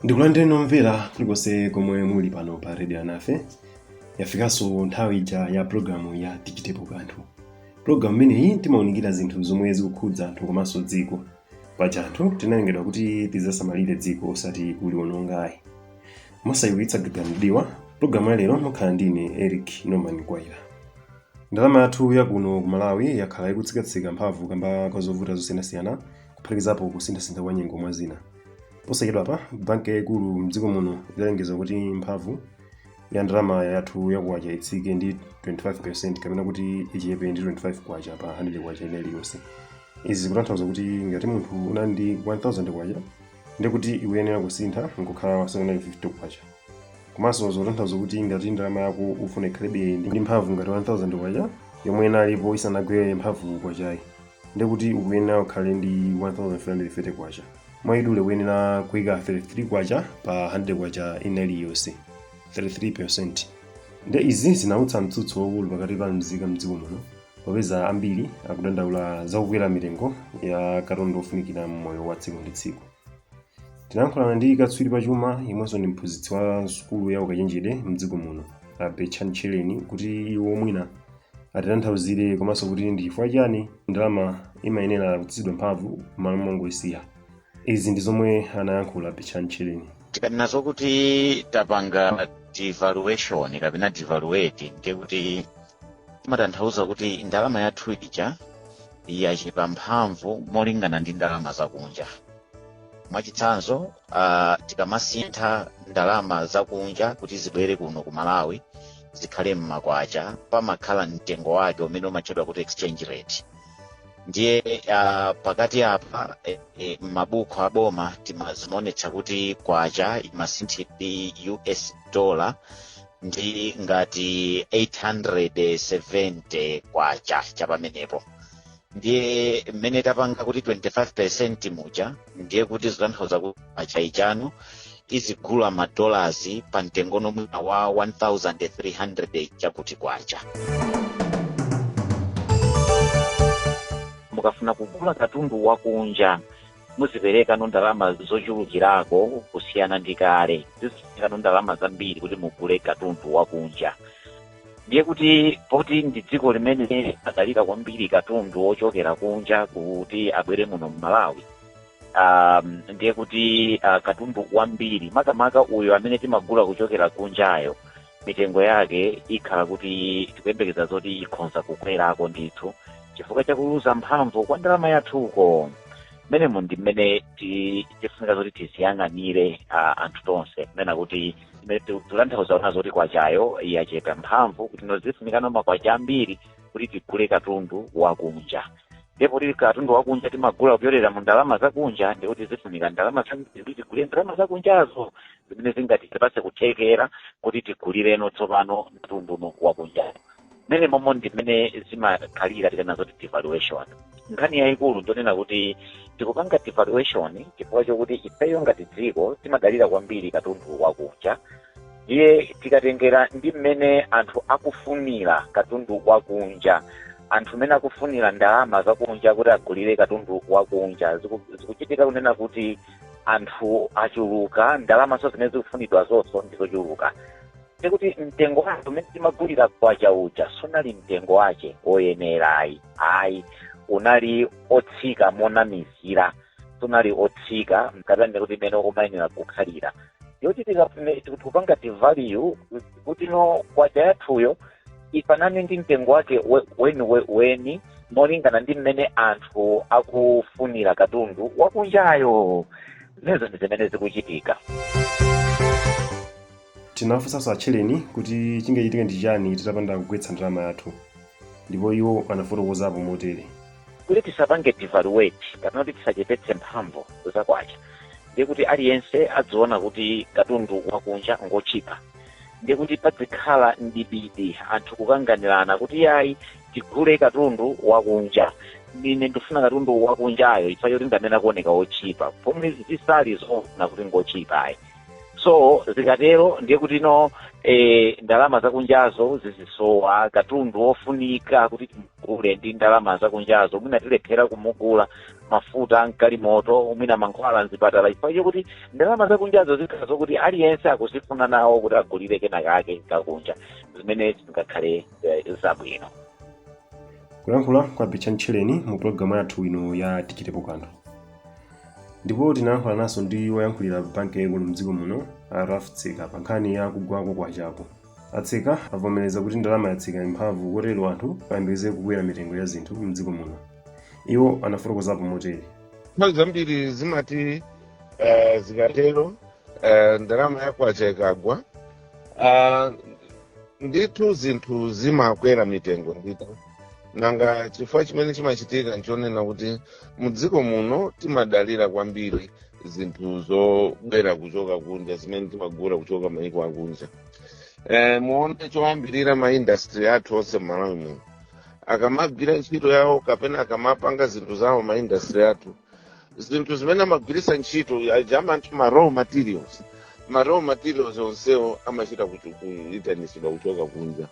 ndikulandireni omvera kulikonse komwe muli pano pa redio alinafe yafikanso nthawi ija ya pulogalamu ya tichitepo kanthu pulogalamu imeneyi timaunikira zinthu zomwe zikukhudza anthu komanso dziko paja anthu tinalengedwa kuti tidzasamalire dziko osati kuliwononga ayi mosawumitsa gaga mdiwa pulogalamu ya lero mukhala ndine eric norman mkwaira ndalama yathu yakuno ku malawi yakhala ikutsikatsika mphamvu kamba kwa zovuta zosiyanasiyana kuphatikizapo kusinthasintha kwa nyengo mwa zina posachedwapa banki yayikulu mdziko muno idalengeza kuti mphamvu ya ndalama yathu ya kwacha itsike ndi 25% kapena kuti ichepe ndi 25 kwacha pa 100 kwacha ina iliyonse izi zikutanthauza kuti ngati munthu unali ndi 1000 kwacha ndikuti ikuyenera kusintha nkukhala 750 kwacha komanso zikutanthauza kuti ngati ndalama yako ufuna ikhalebe ndi mphamvu ngati 1000 kwacha yomwe inalipo isanagwere mphamvu kwachayi ndiye kuti ukuyenera ukhale ndi 1330 kwacha mwaidule ukuyenera kuika 33 kwacha pa 100 kwacha ina iliyonse 33% nde izi zinautsa mtsutso waukulu pakati pa mzika mdziko muno popeza ambiri akudandaula za kukwera mitengo ya katundu ofunikira mmoyo wa tsiku ndi tsiku tinayankhulana ndi katswiri pa chuma yemwenso ndi mphunzitsi wa sukulu ya ukachenjede mdziko muno a betchani tchereni kuti iwo mwina atitanthauzire komanso kuti ndi chifukwa chani ndalama imayenera kutsitsidwa mphamvu m'malo mongoyisiya izi ndi zomwe anayankhula betchani tchereni tikanena zokuti tapanga devaluation kapena devaluate ndiye kuti timatanthauza kuti ndalama yathu ija yachepa mphamvu molingana ndi ndalama zakunja mwachitsanzo uh, tikamasintha ndalama zakunja kuti zibwere kuno ku malawi zikhale mmakwacha pamakhala mtengo wake umene umatchedwa kuti exchange rate ndiye uh, pakati apa e, e, mmabuku aboma timazimonetsa kuti kwacha imasinthidwa ndi us dollar ndi ngati 870 kwacha chapamenepo ndiye mmene tapanga kuti 25% muja ndiye kuti zitanthauza kuti kwacha ija no izigula madolasi pa mtengo no mwina wa 1300 chakuti kwacha mukafuna kugula katundu wakunja muziperekano ndalama zochulukirako kusiyana ndi kale zifunikano ndalama zambiri kuti mugule katundu wakunja ndiye kuti poti ndi dziko limene limadalira kwambiri katundu wochokera kunja kuti abwere muno mmalawi um, ndiye kuti uh, katundu wambiri makamaka uyo amene timagula kuchokera kunjayo mitengo yake ikhala kuti tikuyembekeza zoti ikhonza kukwerako ndithu chifukwa chakuluza mphamvu kwa ndalama yathuko mmenemo ndi mmene ti- tifunika zoti tiziyang'anire ah, anthu tonse kunena kuti imene ti- tikutanthauza ponena zoti kwachayo yachepa mphamvu kuti no zifunikano makwacha ambiri kuti tigule katundu wakunja ndipo kuti katundu wakunja timagula kupyolera mu ndalama zakunja ndikuti zifunika ndalama za- kuti tigule ndalama zakunjazo zimene zingatipatse kuthekera kuti tigulireno tsopano katundu wakunja mmene momo ndi mmene zimakhalira tikanena zoti devaluation nkhani yayikulu ndonena kuti tikupanga devaluation chifukwa chokuti ifeyo ngati dziko timadalira kwambiri katundu wakunja ndiye tikatengera ndi mmene anthu akufunira katundu wakunja anthu mmene akufunira ndalama zakunja kuti agulire katundu wakunja Ziku- zikuchitika kunena kuti anthu achuluka ndalamanso zimene zikufunidwazonso ndizochuluka ndikuti mtengo wake umene timagulira kwacha uja sunali mtengo wake woyenera ayi ayi unali otsika monamizira sunali otsika mkatani ndikuti mmene umayenera kukhalira yoti tikupanga devalue kuti no kwacha yathuyo ifanane ndi mtengo wake weniweni molingana ndi mmene anthu akufunira katundu wakunjayo zimenezo ndi zimene zikuchitika tinafunsanso a tchereni kuti chingachitike ndi chani titapanda kugwetsa ndalama yathu ndipo iwo anafotokozapo motere kuti tisapange devalue kapena kuti tisachepetse mphamvu za kwacha ndiye kuti aliyense adziona kuti katundu wakunja ngotchipa ndiye kuti padzikhala mdipiti anthu kukanganirana kuti iyayi tigule katundu wakunja ine ndifuna katundu wakunjayo chifukwa choti ndamene akuoneka wotchipa pomwe zisali zoona kuti ngotchipa ayi so zikatero ndiye kuti no eh, ndalama zakunjazo zizisowa katundu wofunika kuti timugule ndi ndalama zakunjazo mwina tilephera kumugula mafuta a mgalimoto mwina mankhwala mzipatala chifukwa chokuti ndalama zakunjazo zikhala zokuti aliyense akuzifuna nawo kuti agulire kena kake kakunja zimene zingakhale eh, zabwino kulankhula kwa a betchani tchereni mu pulogalamu yathu ino ya tichitepo kanthu ndipo tinalankhulananso ndi woyankhulira banki yaikulu mdziko muno a ralph tseka pa nkhani ya kugwa kwa kwachako a tseka avomereza kuti ndalama yatsika mphamvu kotero anthu ayembekeze kukwera mitengo ya zinthu mdziko muno Iwo anafotokozapo motere. nthawi zambiri zimati eh, zikatero eh, ndalama ya kwacha ikagwa ah, ndithu zinthu zimakwera mitengo ndithu nanga chifukwa chimene chimachitika nchonena kuti mdziko muno timadalira kwambiri zinthu zobwera kuchoka kunja zimene timagula kuchoka maiko akunja eh, muone choyambirira ma industry athu onse m'malawi muno akamagwira ntchito yawo kapena akamapanga zinthu zawo ma industry athu zinthu zimene amagwiritsa ntchito aja amati ma raw materials ma raw materials onsewo amachita kuchu- kuitanitsidwa kuchoka kunja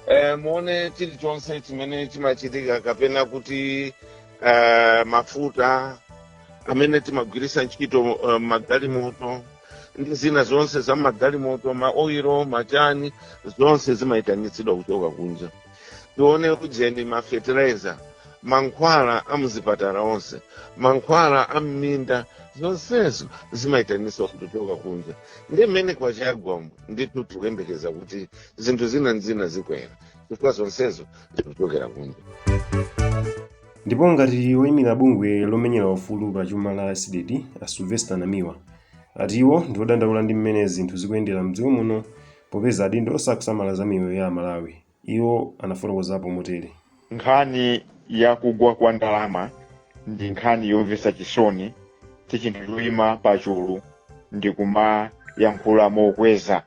eh, muone chilichonse chimene chimachitika kapena kuti eh, mafuta amene timagwiritsa ntchito uh, magalimoto ndi zina zonse za magalimoto maoiro machani zonse zimayitanitsidwa kuchoka kunja tione ujeni ma fertilizer mankhwala a muzipatala onse mankhwala a mminda zonsezo zimayitanitsidwa kuchoka kunja ndiye mmene kwacha yagwamu ndithu tikuyembekeza kuti zinthu zina ndi zina zikwera chifukwa zonsezo zikuchokera kunja ndipo monga woyimira bungwe lomenyera ufulu pa chuma la cdedi a sylvester namiwa ati iwo ndi odandaula ndi mmene zinthu zikuyendera mdziko muno Popeza adindo sakusamala za miyoyo ya Amalawi, iwo anafotokozapo motere. Nkhani ya kugwa kwa ndalama ndi nkhani yomvetsa chisoni, si chinthu choima pachulu ndi kumayankhula mokweza.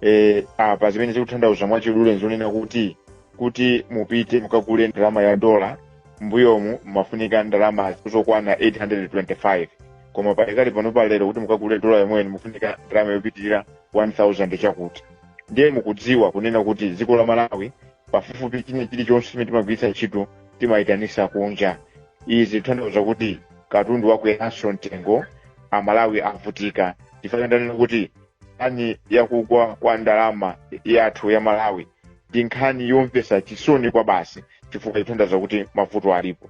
E, apa zimene zikutanthauza mwachidule nzonena kuti kuti mupite mukagule ndalama ya dola mbuyomu mumafunika ndalama zokwana 825 koma pakali pano pa lero kuti mukagule dola yomweyo mufunika ndalama yopitirira 1000 chakuti ndiye mukudziwa kunena kuti dziko la malawi pafupifupi china chilichonse chimene timagwiritsa ntchito timayitanisa kunja izi zitanthauza kuti katundu wakweranso mtengo amalawi avutika chifukwa ndanena kuti nkhani yakugwa kwa ndalama yathu ya malawi ndi nkhani yomvetsa chisoni kwabasi chifukwa itanthauza kuti mavuto alipo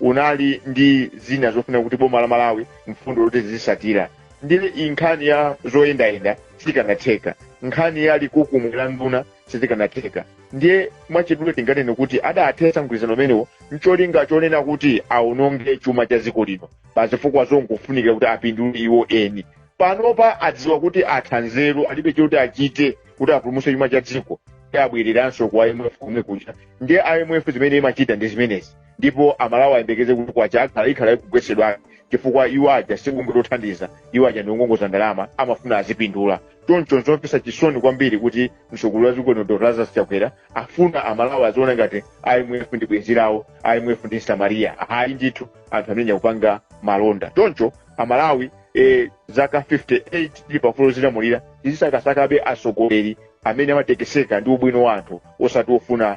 unali ndi zina zofunika kuti boma la malawi mfundo loti lizitsatira ndiye iyi nkhani ya zoyendayenda sikanatheka nkhani ya likukumwe la nduna sizikanatheka ndiye mwachidule tinganene kuti adathetsa mgwirizano umenewo ncholinga chonena kuti aononge chuma cha dziko lino pa zifukwa zongofunikira kuti apindule iwo eni panopa adziwa kuti atha nzeru alibe choti achite kuti apulumutse chuma cha dziko ndi abwereranso ku imf komwe kuja ndiye imf zimene imachita ndi zimenezi ndipo amalawi ayembekeze kuti kwacha ikhala ikugwetsedwa chifukwa iwo aja sibungwe lothandiza iwo aja ndi ongongoza ndalama amafuna azipindula choncho nzomvetsa chisoni kwambiri kuti mtsogoleri wa dziko lino dr lazarus chakwera afuna amalawi aziona ngati imf ndi bwenzi lawo imf ndi msamariya ayi ndithu anthu amene akupanga malonda choncho amalawi eh, zaka 58 tili paufulu wodzilamulira tizisakasakabe atsogoleri amene amatekeseka ndi ubwino wa anthu osati ofuna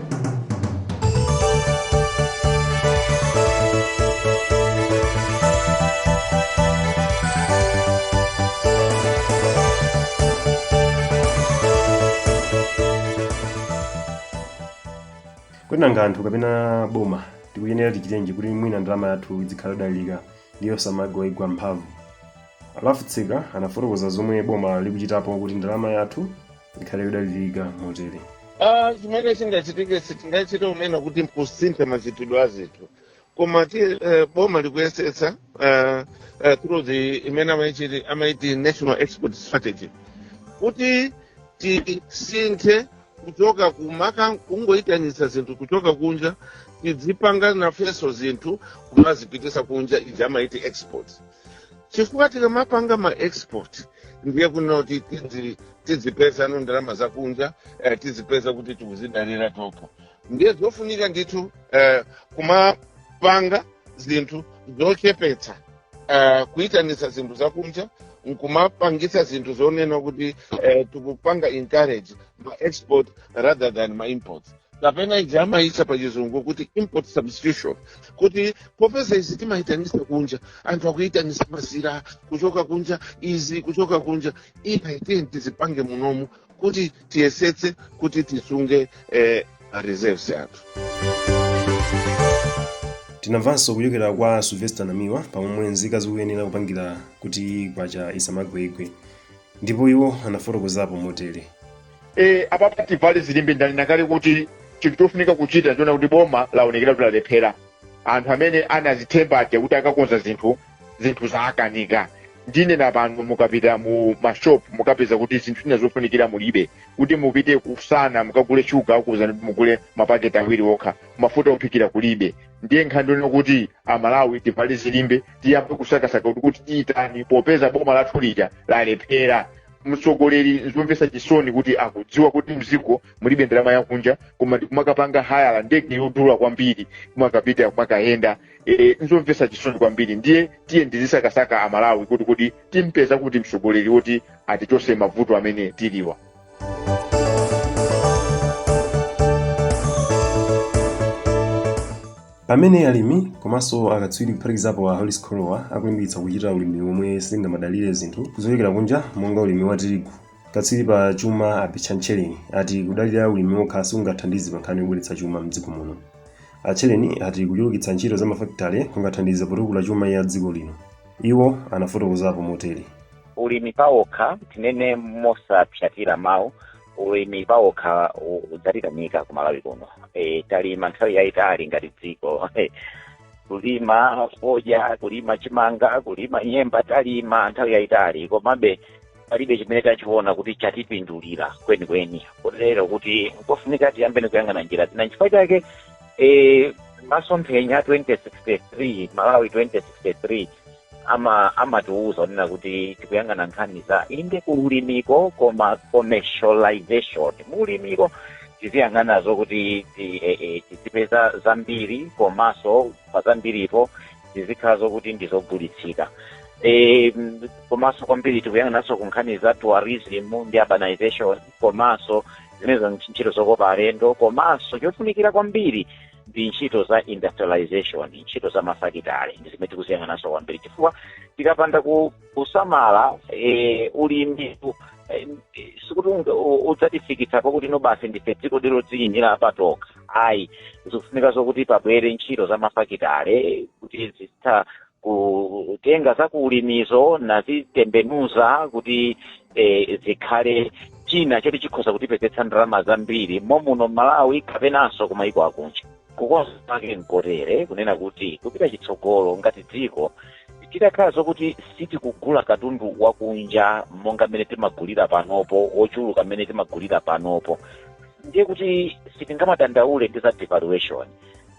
kodi nanga anthu kapena boma tikuyenera tichitenji kuti mwina ndalama yathu idzikhala yodalirika ndi yosamagwaigwa mphamvu alafu tsika anafotokoza zomwe boma likuchitapo kuti ndalama yathu ikhale yodalirika motere Ah, chimene chingachitike sitingachite unena kuti nkusintha machitidwe a zinthu koma eh, boma likuyesetsa eh, eh, through the imene amayichiti amayiti national export strategy kuti tisinthe kuchoka kumaka kungoyitanisa zinthu kuchoka kunja tidzipanga nafenso zinthu kumazipitisa kunja ija amayiti export chifukwa tikamapanga ma export ndiye kunena kuti tidzi- tidzipeza ndalama zakunja eh, tidzipeza kuti tikuzidalira tokha ndiye zofunika ndithu eh, kumapanga zinthu zochepetsa eh, kuyitanitsa zinthu zakunja nkumapangitsa zinthu zonena kuti eh, tikupanga encourage ma export rather than ma imports kapena ija amayitsa pa chizungu kuti import substitution kuti popeza izi timayitanisa kunja anthu akuyitanisa mazira kuchoka kunja izi kuchoka kunja iyayi tiyeni tizipange munomu kuti tiyesetse kuti tisunge eh, ma reserves athu tinamvanso kuchokera kwa sylvester namiwa pamomwe nzika zikuyenera kupangira kuti kwacha isamagweigwe ndipo iwo anafotokozapo motere e, apapa tivale zilimbe ndanena kale kuti chinthu chofunika kuchita ndi kuona kuti boma laonekera kuti lalephera anthu amene anazithemba aja kuti akakonza zinthu zinthu zaakanika ndinena pano mukapita mu mashop mukapeza kuti zinthu zina zofunikira mulibe kuti mupite kusana mukagule shuga akuuzani kuti mugule mapaketi awiri okha mafuta ophikira kulibe ndiye nkhani ndonena kuti amalawi tivale zilimbe tiyambe kusakasaka kuti kuti titani popeza boma lathu lija lalephera mtsogoleri nzomvetsa chisoni kuti akudziwa kuti mziko mulibe ndalama yakunja koma ndikumakapanga hayala ndege yodula kwambiri kumakapita kumakayenda e, nzomvetsa chisoni kwambiri ndiye tiyeni tizisakasaka amalawi kuti kuti timpeza kuti mtsogoleri woti atichose mavuto amene tilinawa Pamene alimi komanso akatswiri kuphatikizapo a Hollis Kholowa akulimbikitsa kuchita ulimi womwe singamadalire zinthu zochokera kunja monga ulimi wa tirigu, katswiri pa chuma a Betchani Tchereni ati kudalira ulimi wokha sikungathandize pankhani yobweretsa chuma m'dziko muno. A Tchereni ati kuchulukitsa ntchito za mafakitale kungathandize potukula chuma ya dziko lino. Iwo anafotokozapo motere. Ulimi pawokha, tinene mosapsatira mawu, ulimi pawokha udzatikanika ku malawi kuno e, talima nthawi yayitali ngati dziko kulima fodya kulima chimanga kulima nyemba talima nthawi yayitali komabe palibe chimene tachiona kuti chatipindulira kwenikweni kotero kuti nkofunika tiyambeni kuyang'ana njira zina nchifukwa chake e, masomphenya 2063 malawi 2063 ama amatiuza onena kuti tikuyang'ana nkhani za inde kuulimiko koma commercialization muulimiko tiziyang'ana zokuti ti- eh, eh, tizipeza zambiri komanso pa zambiripo tizikhala zokuti ndizogulitsika Eh, m- komanso kwambiri tikuyang'ananso ku nkhani za tourism ndi urbanization komanso zimenezo ntchito zokopa alendo komanso chofunikira kwambiri ndi ntchito za industrialization ntchito za mafakitale ndi zimene tikuziyang'ananso kwambiri chifukwa tikapanda ku- kusamala eh, ulimi eh, sikuti unga- u- udzatifikitsa pokuti no basi ndife dzikodi lodziyimira patokha ayi zikufunika zokuti pabwere ntchito za mafakitale kuti zitha kutenga za ku ulimizo nazitembenuza kuti eh, zikhale china choti chikhoza kutipezetsa ndalama zambiri momuno malawi kapenanso kumayiko akunja kukonza kwake nkotere kunena kuti kupita chitsogolo ngati dziko titakhala zokuti sitikugula katundu wakunja monga mmene timagulira panopo ochuluka mmene timagulira panopo ndiye kuti sitingamadandaule ndi za devaluation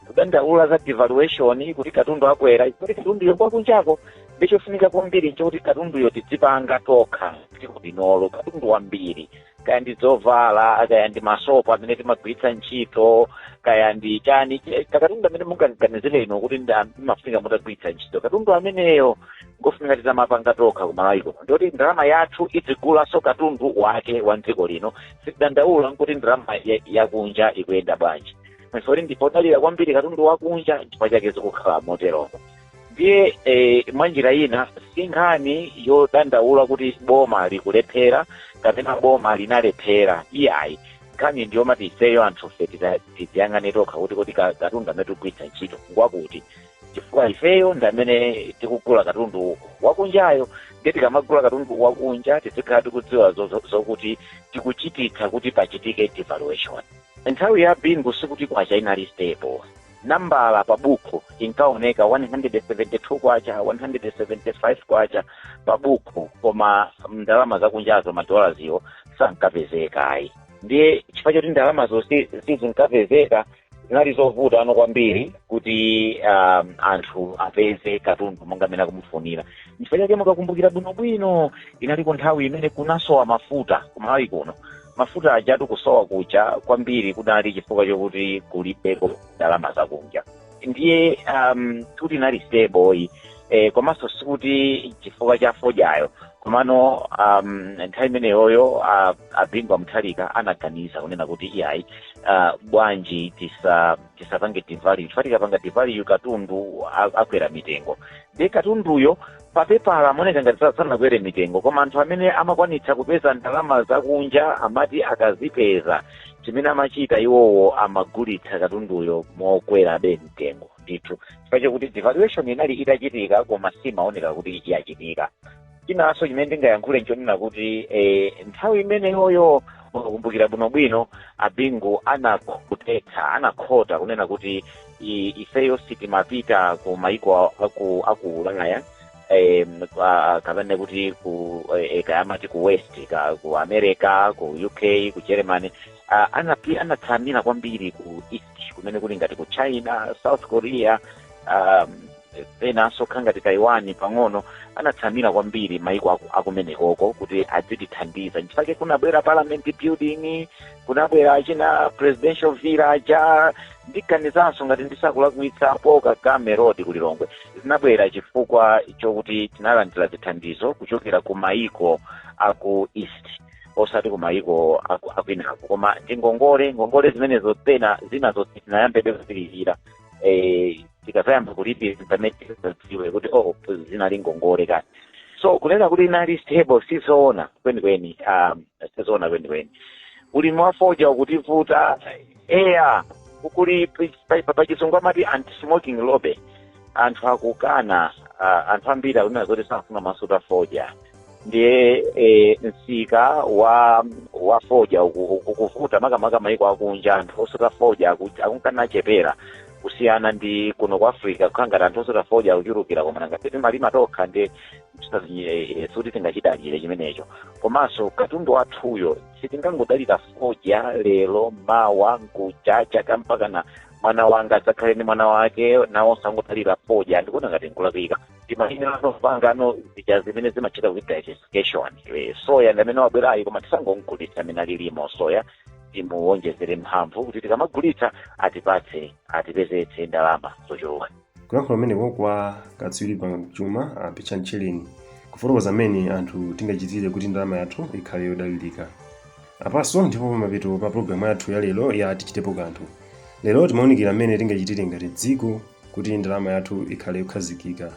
kudandaula za devaluation kuti katundu akwera kuti katunduyo ngwa kunjako ndi chofunika kwambiri nchokuti katunduyo tidzipanga tokha mdziko linolo katundu wambiri kaya ndi zovala kaya ndi masopo amene timagwiritsa ntchito kaya ndi chani che- katundu amene mungaganizire inu kuti ndi am- amafunika mutagwiritsa ntchito katundu ameneyo ngofunika titamapanga tokha kumalawi kuno ndikuti ndalama yathu idzigulanso katundu wake wa mdziko lino sitidandaula nkuti ndalama ya- yakunja ikuyenda bwanji chifukwa kuti ndife odalira kwambiri katundu wakunja chifukwa chake zikukhala moteromo ndiye eh, mwa njira ina si nkhani yodandaula kuti boma likulephera kapena boma linalephera iyayi nkhani ndi yomati ifeyo anthufe tita- tiziyang'ane tokha kuti kodi ka- katundu amene tikugwiritsa ntchito ngwakuti chifukwa ifeyo ndi amene tikugula katundu wakunjayo ndiye tikamagula katundu wakunja tizikhala tikudziwa zo- zo- zokuti tikuchititsa kuti pachitike devaluation Nthawi ya Bingu sikuti kwacha inali stable. Nambala pa bukhu inkaoneka K172, K175 pa bukhu koma ndalama zakunjazo ma dollars wo sankapezeka ayi. Ndiye chifukwa choti ndalamazo si- sizinkapezeka zinali zovutano kwambiri kuti um, anthu apeze katundu monga amene akumufunira. Chifukwa chake mukakumbukira bwinobwino inaliko nthawi imene kunasowa mafuta ku Malawi kuno mafuta ajatu kusowa kuja kwambiri kunali chifukwa chokuti kulibeko ndalama zakunja ndiye um, kuti inali stable ayi, komanso sikuti chifukwa cha fodyayo komano um, nthawi imeneyoyo uh, a Bingu wa Mutharika anaganiza kunena kuti iyayi uh, bwanji tisa tisapange devalue chifukwa tikapanga devalue katundu a- akwera mitengo ndiye katunduyo Pa pepala amaoneka ngati sa- sanakwere mitengo koma anthu amene amakwanitsa kupeza ndalama zakunja amati akazipeza chimene amachita iwowo amagulitsa katunduyo mokwerabe mtengo ndithu chifukwa chakuti devaluation inali itachitika koma simaoneka kuti yachitika chinanso chimene ndingayankhule nchonena kuti eh, nthawi imeneyoyo mukakumbukira bwinobwino a Bingu anakhotetsa anakhota kunena kuti i- ifeyo si timapita ku maiko aku aku ulaya em, kwa- kapena kuti ku eh, eh, kaya amati ku west ka, ku america ku uk ku germany Ah, anapi anatsamira kwambiri ku east kumene kuli ngati ku china south korea um, penanso kukhala ngati taiwan pang'ono anatsamira kwambiri maiko aku- akumenekoko kuti adzitithandiza nchifukwa chake kunabwera parliament building kunabwera china presidential villa ja ndiganizanso ngati ndisakulakwitsa paul kagame road kulilongwe zinabwera chifukwa chokuti tinalandira zithandizo kuchokera ku maiko aku east osati ku maiko aku- akwinako koma ndi ngongole ngongole zimenezo pena zinazo sitinayambebe kulipira eh, tikadzayamba kulipira pamene tikadziwe kuti oh zinali ngongole kani so kunena kuti inali stable sizoona kwenikweni um, sizoona kwenikweni ulimi wa fodya ukutivuta eya kuli pachizungu amati anti-smoking lobby anthu akukana uh, anthu ambiri akunena zoti safuna kumasuta fodya ndiye e, msika wa wa fodya uku- uku- ukuvuta makamaka maiko akunja anthu osuta fodya aku- akunka nachepera kusiyana ndi kuno ku africa kukukhala ngati anthu osuta fodya akuchulukira koma nanga si sitimalima tokha ndiye sikuti tingachidalire chimenecho komanso katundu wathuyo sitingangodalira fodya lero mawa nkucha chaka mpakana mwana wanga adzakhale ndi mwana wake nawonso angodalira fodya ndikuona ngati nkulakwika timalimanso zopanganso zija zimene zimatchedwa kuti diversification Eh, soya ndi amene wabwerayi koma tisangomgulitsa mmene alilimo soya timuwonjezere mphamvu kuti tikamagulitsa atipatse atipezetse ndalama zochuluka kulankhula kumeneko kwa katswiri pa chuma a picha mcheleni kufotokoza mmene anthu tingachitire kuti ndalama yathu ikhale yodalirika apanso ndipo pamapeto pa pulogalamu yathu ya lero ya tichitepo kanthu lero timaunikira mmene tingachitire ngati dziko kuti ndalama yathu ikhale yokhazikika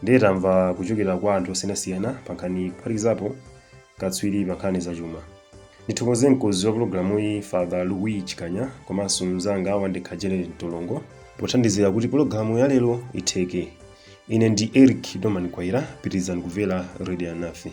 ndiye tamva kuchokera kwa anthu osiyanasiyana pa nkhaniyi kuphatikizapo katswiri pa nkhani zachuma ndithokoze mkonzi wa pologalamuyi father louis chikanya komanso mnzanga wandekha janet mtolongo pothandizira kuti pologalamu ya lero itheke ine ndi eric doman mkwaira pitirizani kumvera radio alinafe